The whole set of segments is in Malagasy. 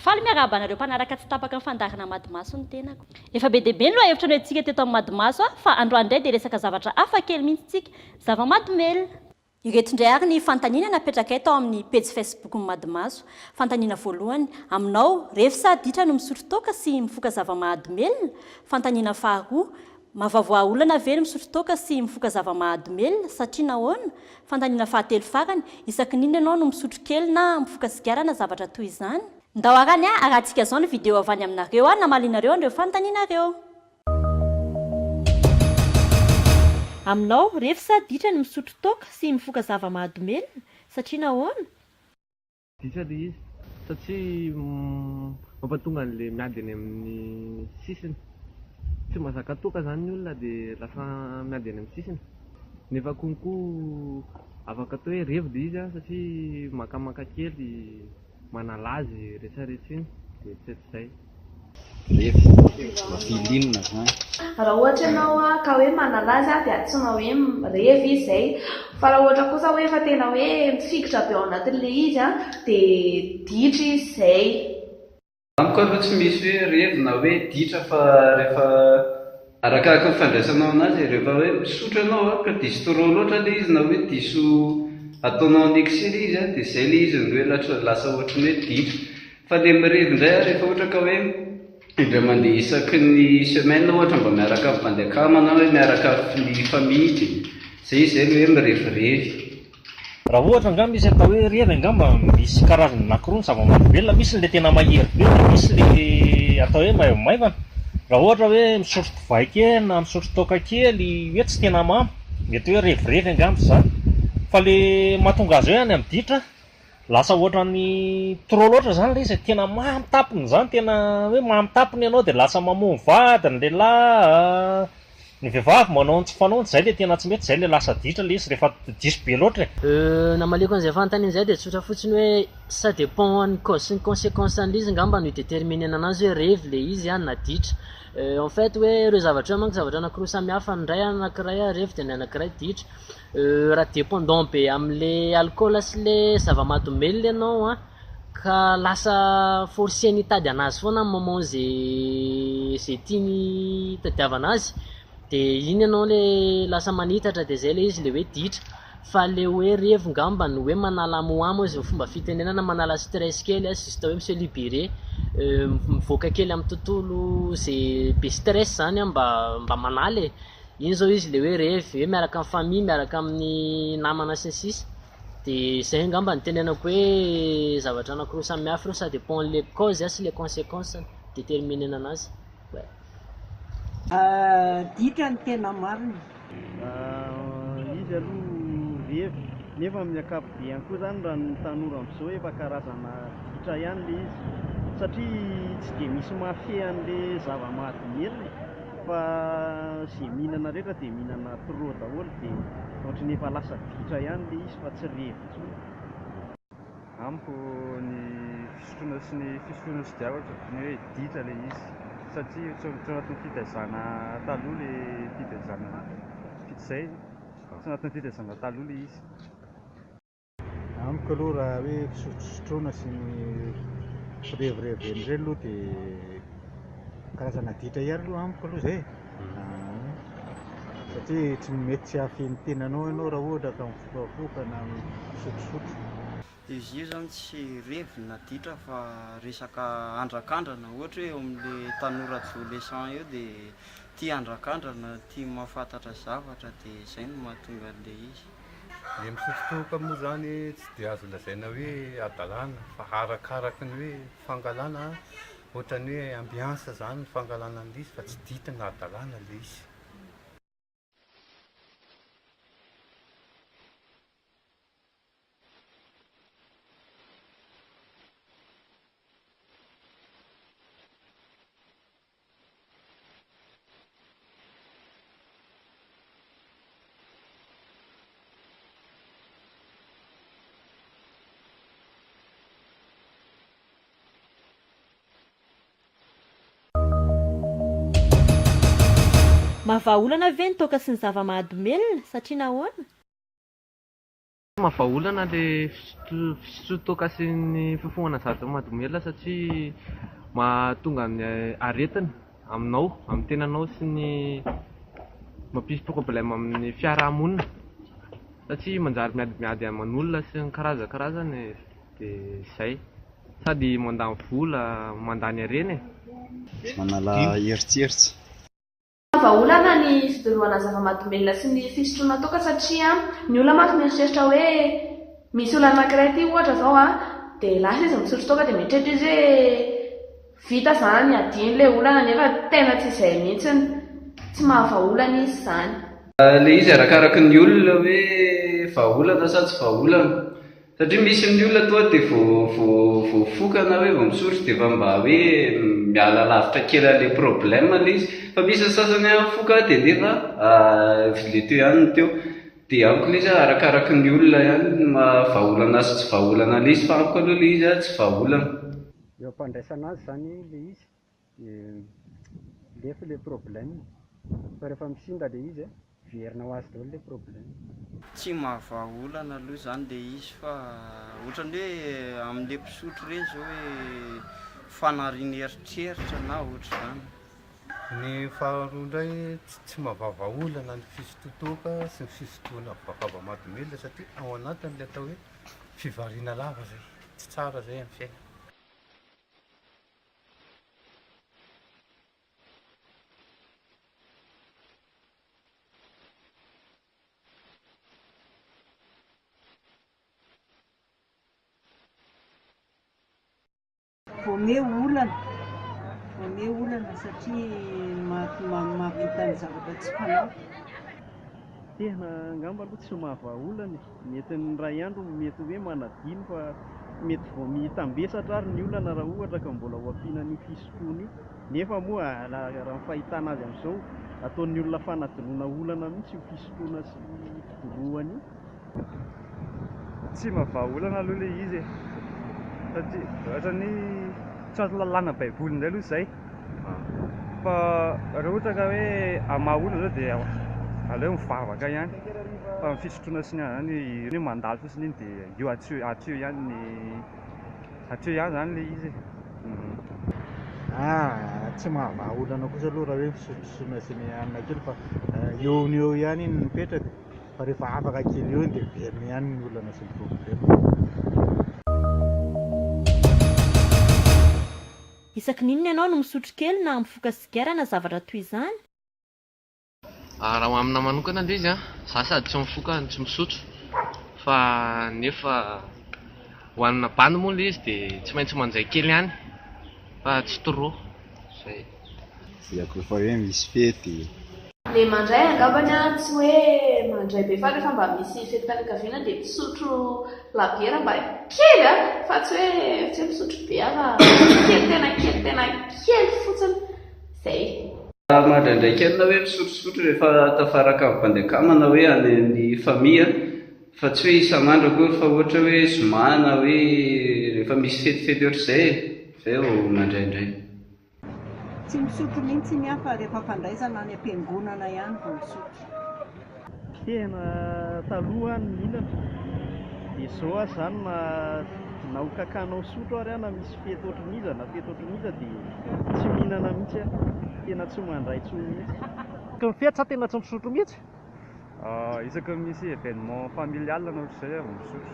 Faly miarahaba anareo mpanaraka tsy tapaka ny fandaharana Madimaso ny tenako. Efa be dia be ny lohahevitra noentintsika teto amin'ny Madimaso fa androany indray dia resaka zavatra hafa kely mihitsy isika, zava-mahadomelina. Ireto indray ary ny fanontaniana napetrakay tao amin'ny pejy Facebook-n'i Madimaso. Fanontaniana voalohany, Aminao, refy sa ditra no misotro toaka sy mifoka zava-mahadomelina? Fanontaniana faharoa, Mahavoavoaha olana ve ny misotro toaka sy mifoka zava-mahadomelina, satria nahoana? Fanontaniana fahatelo farany, Isaky ny inona ianao no misotro kely na mifoka sigara na zavatra toy izany? Ndao arany a, arahantsika izao ny video avy any aminareo a, namalianareo an'ireo fanontanianareo. Aminao, ref sa ditra ny misotro toaka sy mifoka zava mahadomelina? Satria nahoana? Ditra le izy satria mampatonga anle miady eny aminy sisiny, tsy mazaka toaka zany ny olona de lasa miady eny aminy sisiny, nefa konko afaka atao hoe revy le izy satria makamaka kely. manalaza i retraretra iny dia tsy hatrizay. Ref, Mampililina zany. Raha ohatra ianao ka hoe manalaza ahy dia antsoina hoe revy izy izay. Fa raha ohatra kosa hoe efa tena hoe mifikitra be ao anatin'ilay izy dia ditra izy izay. Amiko aloha tsy misy hoe revy na hoe ditra fa rehefa arakaraky ny fandraisanao anazy, rehefa hoe misotro ianao a ka diso trop loatra le izy na hoe diso ataonao en excès le izy a de zay le izy no hoe latra lasa ohatry ny hoe ditra, fa le mirevy ndray a rehefa ohatra ka hoe indray mandeha isaky ny semaine ohatra mba miaraka amin'ny bandy akama na hoe miaraka amin'ny famille de zay izy zay le hoe mirevirevy. Raha ohatra angaha misy atao hoe revy angamba misy karazany anakiroa ny zava-mahadomelina, misy ilay tena mahery be dia misy ilay atao hoe maivomaivana. Raha ohatra hoe misotro divay kely na misotro toaka kely hoe tsy tena mamy, mety hoe revirevy angamba izany. Fa ilay mahatonga azy hoe any amin'ny ditra? Lasa ohatran'ny trop loatra zany le izy e, tena mamy tapony zany, tena hoe mamy tapony ianao de lasa mamono vady ny lehilahy, ny vehivavy manao ny tsy fanaony, zay le tena tsy mety, zay le lasa ditra le izy rehefa diso be loatra e. Euh, namaliako an'izay fanontaniana zay dia tsotra fotsiny hoe ça dépend an'ny cause sy ny consequence an'ilay izy ngamba no hi-determiner-na anazy hoe revy ilay izy an na ditra en fait hoe ireo zavatra ireo manko zavatra anakiroa samy hafa ny iray anankiray revy dia ny anankiray ditra Euh raha dependant be amle alcool sy le zavamadomelina ianao an, ka lasa forceny hitady anazy foana amin'ny moment ze ze tiany hitadiavana azy de iny ianao le lasa manitatra de zay le izy le hoe ditra fa le hoe revy ngamba no hoe manala amo amo izy fomba fitenenana manala stress kely an juste hoe mi-se liberer mivoaka kely amin'ny tontolo ze be stress zany an mba mba manala e. Iny zao izy le hoe revy hoe miaraka amin'ny famille, miaraka amin'ny namana sy ny sisa de zay angamba no tenenako hoe zavatra anakiroa samy hafa ireo ça dépend le cause sy le consequence no mi-determiner anazy. Adika ny tena marina. Izy aloha revy, nefa amin'ny ankapobeny koa zany raha ny tanora amzao efa karazana adika ihany le izy satria tsy de misy mafia an'le zava-mahadomelina e. Fa ze mihinana rehetra de mihinana trop daholo de ohatriny efa lasa vitra ihany le izy fa tsy revy intsony. Amiko ny fisotroana sy ny fisotroana sy diava ohatriny hoe ditra le izy satria tsy anatin'ny fitaizana taloha le fitaizana vita izay tsy anatin'ny fitaizana taloha le izy. Amiko aloha raha hoe fisotrosotroana sy ny firevirevena ireny aloha dia karazana aditra ihany aloha amiko aloha izay satria tsy mety tsy hahafihy ny tenanao ianao raha ohatra ka mifokafoka na misotrosotro. Dia izay izany tsy revy na aditra fa resaka andrakandrana ohatra hoe eo amin'ilay tanora adolescent eo dia tia andrakandrana, tia mahafantatra zavatra dia izay no mahatonga an'ilay izy. Ny mitsitokotoko moa izany tsy dia azo lazaina hoe hadalana fa arakaraky ny hoe fangalana ohatran'ny hoe ambiance izany ny fangalana an'ilay izy fa tsy dikany hadalana ilay izy. Mahavaha olana ve ny toaka sy ny zava-mahadomelina, satria nahoana? Tena vahaolana ilay fisotroan-toaka sy ny fifohana zavatra mahadomelina satria mahatonga ny aretina aminao, amin'ny tenanao sy ny mampisy problème amin'ny fiaraha-monina satria manjary miadimiady aman'olona sy ny karazany karazany dia izay. Sady mandany vola, mandany harena e! Manala eritseritsy. Tena vahaolana ny fidorohana zava-mahadomelina sy ny fisotroana toaka satria ny olona mantsy mieritreritra hoe misy olona anankiray aty ohatra izao a, dia lasa izy misotro toaka dia mieritreritra izy hoe vita izany adino ilay olana nefa tena tsy izay mihitsy, tsy maha vahaolana izy izany. Ilay izy arakaraky ny olona hoe vahaolana sa tsy vahaolana. Satria misy ny olona toa dia vao vao voafoka na hoe vao misotro dia efa mba hoe miala lavitra kely an'ilay problème ilay izy. Fa misy ny sasany an, foka dia nefa ilay teo ihany no teo. Dia amiko ilay izy an, arakaraky ny olona ihany ny maha vahaolana sy tsy vahaolana an'ilay izy fa amiko aloha ilay izy an, tsy vahaolana. Eo am-pandraisana azy izany ilay izy. dia lefy le problème fa rehefa misimba le izy verina ho azy daholo le problème. Tsy mahavaha olana aloha izany le izy fa ohatran'ny hoe amin'le mpisotro ireny izao hoe fanariany eritreritra na ohatr'izany. Ny faharoa indray tsy mahavaha olana ny fisototoaka sy ny fisotoana vakaba mahadomelina satria ao anatiny le atao hoe fivariana lava izay, tsy tsara izay amin'ny fiainana. Voameo olana, voameo olana satria mahavita ny zavatra tsy fanao. Tena angamba aloha tsy mahavaha olana e! Ny entiny iray andro mety hoe manadino fa mety vao mitambesatra ary ny olana raha ohatra ka mbola hoampiana an'io fisotroana io. Nefa moa raha ny fahitana azy amin'izao, ataon'ny olona fanadinoana olana mihitsy io fisotroana sy fidorohana io. Tsy mba vahaolana aloha ilay izy e, satria ohatran'ny tsy ato lalàna baiboly indray aloha izay. fa raha ohatra ka hoe amin'ny maha olona izao dia aleo mivavaka ihany fa ny fisotroana sy ny anona izany io hoe mandalo fotsiny iny dia io hatreo hatreo ihany ny hatreo ihany izany ilay izy ah tsy maha vaha olana kosa aloha raha hoe fisotrosotroana sy ny anona kely fa eo no eo ihany iny mipetraka fa rehefa afaka kely eo iny dia miverina ihany ny olana sy ny problème Isaky ny inona ianao no misotro kely na mifoka sigara na zavatra toy izany? Raha ho amina manokana aloha izy an, za sady tsy mifoka no tsy misotro fa nefa ho anina bandy moa ilay izy dia tsy maintsy manjay kely ihany fa tsy trop, izay. Dia koa fa hoe misy fety. Le mandray angambany a, tsy hoe mandray be fa refa mba misy fetim-pianakaviana dia misotro labiera mba kely a, fa tsy hoe tsy hoe misotro be aza kely tena kely tena kely fotsiny, zay. Raha mandraindraiky any na hoe misotrosotro rehefa tafaraka ny bandy akama na hoe any amin'ny famille a, fa tsy hoe isan'andro akory fa ohatra hoe zoma na hoe rehefa misy fetifety ohatr'izay e, zay vao mandraindray. Tsy misotro mihintsy ny ahy fa rehefa fandraisana any am-piangonana ihany vao misotro. Tena taloha aho no mihinana dia zao aho zany na na ho kakana ho sotro ary aho na misy fety ohatrin'iza na fety ohatrin'iza dia tsy mihinana mihintsy aho. Tena tsy mandray intsony mihintsy. Tokony fety sa tena tsy misotro mihintsy? Isaky ny misy événement familial na ohatr'izay aho vao misotro,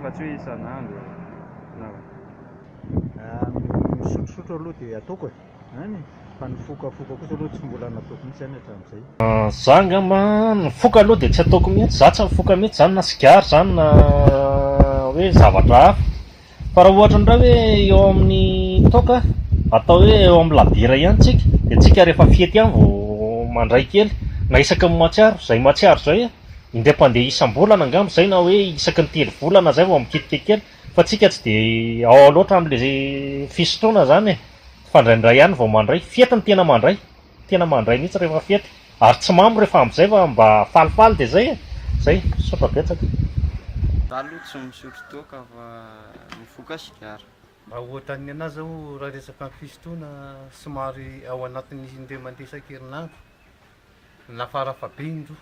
fa tsy hoe isan'andro na. Ny misotrosotro aloha dia ataoko e, an e, fa ny fokafoka kosa aloha tsy mbola nataoko mihitsy zany hatramin'izay. Za angamba ny foka aloha dia tsy ataoko mihitsy, za tsy mifoka mihitsy zany na sigara zany na hoe zavatra hafa, Fa raha ohatra indray hoe eo amin'ny toaka, atao hoe eo amin'ny labiera ihany tsika, dia tsika rehefa fety ihany vao mandray kely, na isaky ny mahatsiaro, izay mahatsiaro izay an, indray mpandeha isam-bolana angamba izay na hoe isaky ny telo volana izay vao mikitika kely, fa tsika tsy dia ao loatra amin'ilay fisotroana izany e, fa indraindray ihany vao mandray, fety ny tena mandray. tena mandray mihitsy rehefa fety ary tsy mamo rehefa amzay fa mba falifaly de zay e! zay, misaotra betsaka. Taloha tsy misotro toaka fa mifoka sigara. Raha ohatran'ny anah zao raha resaka ny fisotroana somary ao anatin'ny indray mandeha isan-kerinandro na fara fahabeny roa.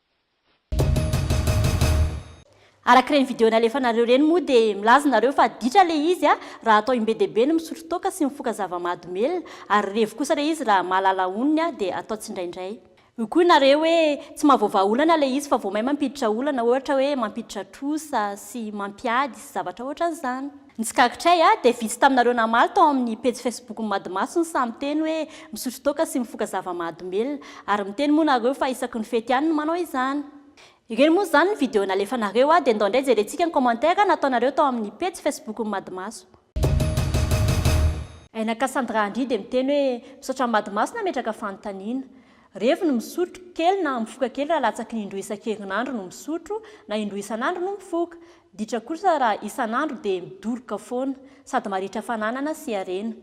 Araka ireny video nalefanareo ireny moa dia milaza nareo fa ditra ilay izy a! raha atao im-be dia be ny misotro toaka sy mifoka zava-mahadomelina, ary revy kosa ilay izy raha mahalala onony a! dia atao tsindraindray. Hoy koa nareo hoe tsy mahavoavaha olana ilay izy fa vao may mampiditra olana, ohatra hoe mampiditra trosa sy mampiady sy zavatra ohatran'izany. Ny tsikaritr'ay a, dia vitsy taminareo namaly tao amin'ny pejy facebook-n'ny Madimaso ny sahy miteny hoe misotro toaka sy mifoka zava-mahadomelina. Ary miteny moa nareo fa isaky ny fety ihany no manao izany. Ireny moa izany ny video nalefanareo a, dia ndao indray jerentsika ny commentaire nataonareo tao amin'ny pejy facebook-n'ny Madimaso. Aina Cassandra Andry dia miteny hoe misaotra an'i Madimaso nametraka fanontaniana. Revy ny misotro, kely na mifoka kely raha latsaky ny indroa isan-kerinandro no misotro, na indroa isan'andro no mifoka. Ditra kosa raha isan'andro dia midoroka foana, sady marihitra fananana sy harena.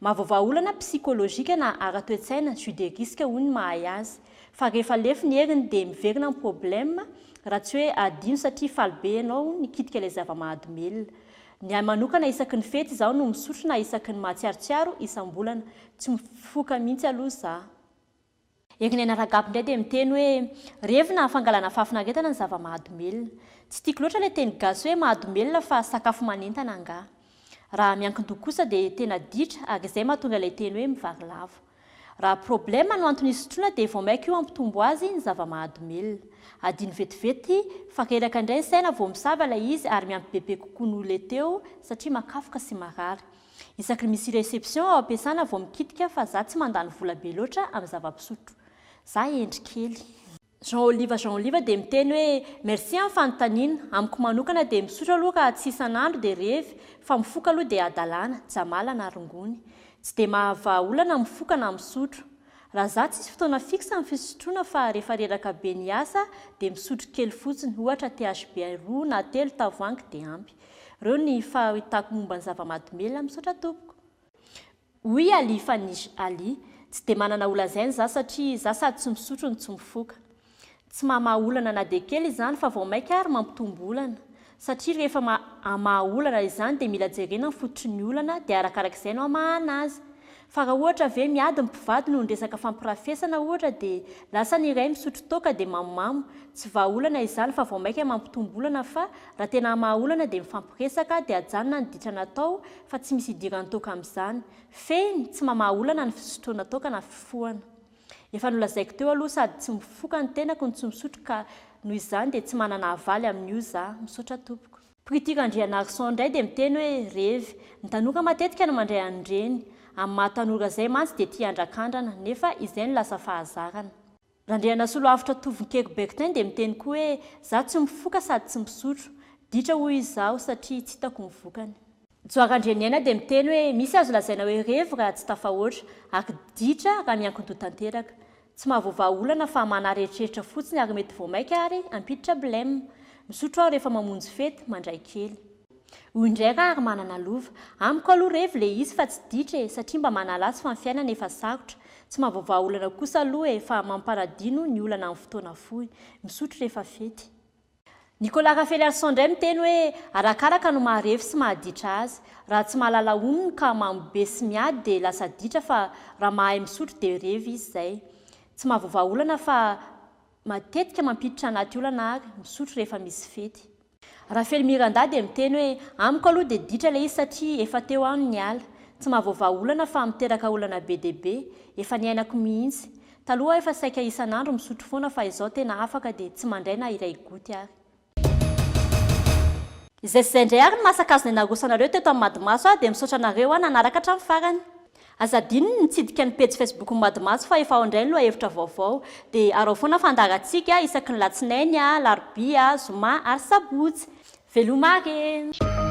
Mahavaovà olana psikolojika na ara-toe-tsaina, jus de risque hoy ny mahay azy. Fa rehefa lefy ny heriny dia miverina ny problème, raha tsy hoe adino satria faly be ianao nikitika ilay zava-mahadomelina. Ny ahy manokana isaky ny fety izaho no misotro na isaky ny mahatsiarotsiaro isam-bolana. Tsy mifoka mihitsy aloha izaho. Erinena Ragab indray dia miteny hoe, revina fangalana fahafinaretana ny zava-mahadomelina. Tsy tiako loatra ilay teny gasy hoe mahadomelina fa sakafo manentana angaha. Raha miankin-doha kosa dia tena ditra ary izay mahatonga ilay teny hoe mivarilavo. Raha problème no antony hisotroana dia vao mainka io hampitombo azy ny zava-mahadomelina. Adino vetivety fa reraka indray ny saina vao misava ilay izy ary miampy bebe kokoa noho ilay teo satria makafoka sy marary. Isaky ny misy reception ao am-piasana vao mikitika fa za tsy mandany vola be loatra amin'ny zava-pisotro. Za hendry kely. Jean Oliva Jean Oliva dia miteny hoe merci amin'ny fanontaniana, amiko manokana dia misotro aloha ka tsy isan'andro dia revy, fa mifoka aloha dia hadalana, jamala na rongony. Tsy dia mahavaha olana mifoka na misotro. Raha za tsisy fotoana fixe ny fisotroana fa rehefa reraka be ny asa dia misotro kely fotsiny, ohatra THB roa na telo tavoahangy dia ampy. Reo ny fahitako momba ny zava-madomela, misaotra tompoko. Oui Ali fa ny Ali tsy dia manana holazainy za satria za sady tsy misotro no tsy mifoka. Tsy mamaha olana na dia kely izany fa vao maika ary mampitombo olana. Satria rehefa ma amaha olana izany dia mila jerena ny fototry ny olana dia arakarak'izay no amahana azy. Fa raha ohatra ve miady ny mpivady noho ny resaka fampirafesana ohatra dia lasa ny iray misotro toaka dia mamomamo, tsy vahaolana izany fa vao maika mampitombo olana fa raha tena hamaha olana dia mifampiresaka dia ajanona ny ditra natao fa tsy misy idiran'ny toaka amin'izany. Fehiny, tsy mamaha olana ny fisotroana toaka na fifohana. Efa nolazaiko teo aloha sady tsy mifoka ny tenako no tsy misotro ka noho izany dia tsy manana havaly amin'io za. Misaotra tompoko. Priti Randrianarison indray dia miteny hoe revy, ny tanora matetika no mandray an'ireny, amin'ny maha tanora izay mantsy dia tia handrakandrana, nefa izay no lasa fahazarana. Randrianasoloavitra Tovonkeko Bertin dia miteny koa hoe, izaho tsy mifoka sady tsy misotro, ditra hoy izy izaho satria tsy hitako ny vokany. Joa Randrianiaina dia miteny hoe misy azo lazaina hoe revy raha tsy tafahoatra, ary ditra raha miankin-doha tanteraka. Tsy mahavoavaha olana fa manaretreritra fotsiny ary mety vao maika ary hampiditra blem. Misotro aho rehefa mamonjy fety, mandray kely. Hoy indray raha ary manana lova. Amiko aloha revy ilay izy fa tsy ditra e, satria mba manala azy fa ny fiainana efa sarotra. Tsy mahavoavaha olana kosa aloha e, fa mampanadino ny olana amin'ny fotoana fohy. Misotro rehefa fety. Nicolas Rafeliarison indray miteny hoe arakaraka no maharefy sy mahaditra azy. Raha tsy mahalala honony ka mamo be sy miady dia lasa ditra fa raha mahay misotro dia revy izy izay. Tsy mahavoa vahaolana fa matetika mampiditra anaty olana ary misotro rehefa misy fety. Rafely Miranda dia miteny hoe amiko aloha dia ditra ilay izy satria efa teo aho no niala. Tsy mahavoa vahaolana fa miteraka olana be dia be. Efa niainako mihitsy. Taloha aho efa saika isan'andro misotro foana fa izao tena afaka dia tsy mandray na iray goty ary. Izay sy izay indray ary ny masakazony narosoanareo teto amin'ny Madimaso aho dia misaotra anareo aho nanaraka hatramin'ny farany. Aza adino ny nitsidika ny pejy facebookn'ny Madimaso fa efa ao indray ny lohahevitra vaovao. Dia araho foana fandaharantsika isaky ny latsinainy, alarobia, zoma ary sabotsy. Veloma aky e!